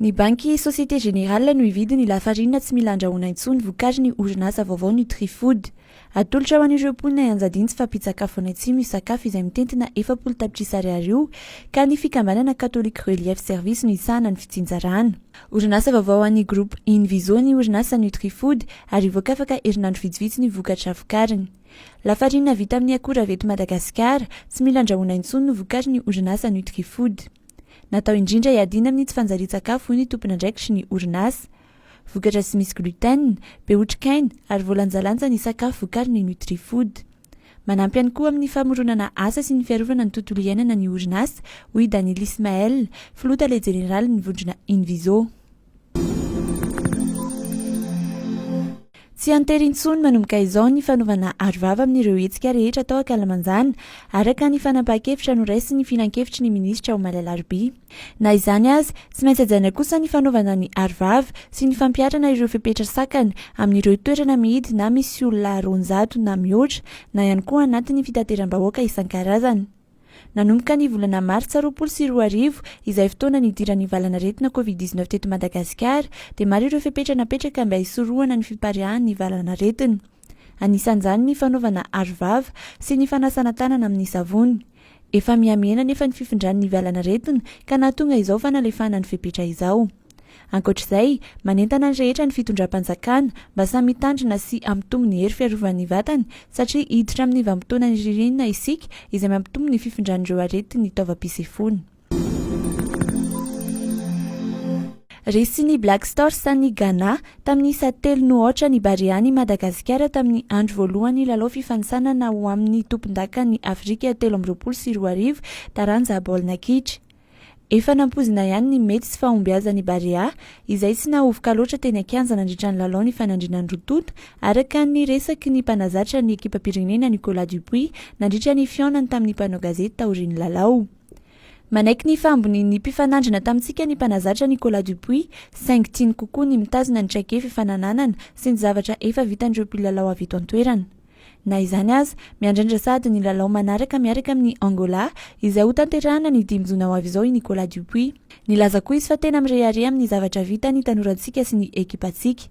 Ny banky Société Générale no hividy ny lafarinina tsy mila andrahoina intsony vokarin'ny orinasa vaovao Nutrifood. Atolotra ho an'ireo mponina i Anjadintsy fa mpitsakafo any Atsimo io sakafo izay mitentina efapolo tapitrisa ariary io ka ny fikambanana Catholic Relief Service no hisahana ny fitsinjarana. Orinasa vaovao an'ny Groupe Invizo ny orinasa Nutrifood ary hivoaka afaka herinandro vitsivitsy ny vokatra vokariny. Lafarinina vita amin'ny akora avy eto Madagasikara, tsy mila andrahoina intsony no vokarin'ny orinasa Nutrifood. Natao indrindra hiadiana amin'ny tsy fanjarian-tsakafo hoy ny tompon'andraikitry ny orinasa. Vokatra tsy misy gluten, be otrikaina ary voalanjalanja ny sakafo vokarin'ny Nutrifood. Manampy ihany koa amin'ny famoronana asa sy ny fiarovana ny tontolo iainana ny orinasa, hoy i Daniel Ismael, filoha tale jeneralin'ny vondrona Inviso. Tsy an-tery intsony manomboka izao ny fanaovana arovava amin'ireo hetsika rehetra tao ankalamanjana, araka ny fanapahan-kevitra noraisin'ny filankevitry ny minisitra omaly alarobia. Na izany aza, tsy maintsy hajaina kosa ny fanaovana ny arovava sy ny fampiharana ireo fepetra sakana amin'ireo toerana mihidy na misy olona roanjato na mihoatra na ihany koa anatin'ny fitateram-bahoaka isan-karazany. Nanomboka ny volana martsa roapolo sy roa arivo, izay fotoana nidiran'ny valanaretina covid dix neuf teto Madagasikara, dia maro ireo fepetra napetraka mba hisorohana ny fipariahan'ny valanaretina. Anisan'izany ny fanaovana arovava sy ny fanasana tanana amin'ny savony. Efa mihamihena anefa ny fifindran'ny valanaretina ka nahatonga izao fanalefahana ny fepetra izao. Ankoatra izay, manentana ny rehetra ny fitondram-panjakana mba samy hitandrina sy hampitombo ny hery fiarovan'ny vatany satria hiditra amin'ny vanim-potoana ny ririnina isika izay mampitombo ny fifindran'ireo aretin'ny taovam-pisefoana. Resin'ny Black Stars an'i Ghana tamin'ny isa telo noho aotra ny Barean'i Madagasikara tamin'ny andro voalohan'ny lalao fifanintsanana ho amin'ny tompondakan'i Afrika telo amby roapolo sy roa arivo taranja baolina kitra. Efa nampoizina ihany ny mety tsy fahombiazan'ny Barea, izay tsy nahovoka loatra teny an-kianja nandritra ny lalao nifanandrinan'ny roa tonta, araka ny resaky ny mpanazatra ny ekipam-pirenena Nicolas Dupuis nandritra ny fihaonany tamin'ny mpanao gazety taorian'ny lalao. Manaiky ny fahambonian'ny mpifanandrina tamintsika ny mpanazatra Nicolas Dupuis, saingy tiany kokoa ny mitazona ny traikefa efa nananana sy ny zavatra efa vitan'ireo mpilalao avy eto an-toerana. Na izany aza, miandrandra sahady ny lalao manaraka miaraka amin'i Angola, izay hotanterahana ny dimy jona ho avy izao i Nicolas Dupuis. Nilaza koa izy fa tena mirehareha amin'ny zavatra vita ny tanorantsika sy ny ekipantsika.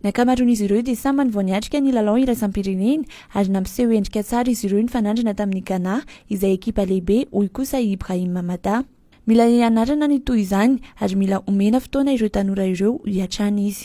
Ny ankamaroan'izy ireo dia samy many vao niatrika ny lalao iraisam-pirenena ary nampiseho endrika tsara izy ireo nifanandrina tamin'i Ghana izay ekipa lehibe, hoy kosa i Ibrahim Mamada. Mila hianarana ny toy izany ary mila omena fotoana ireo tanora ireo hiatrany izy.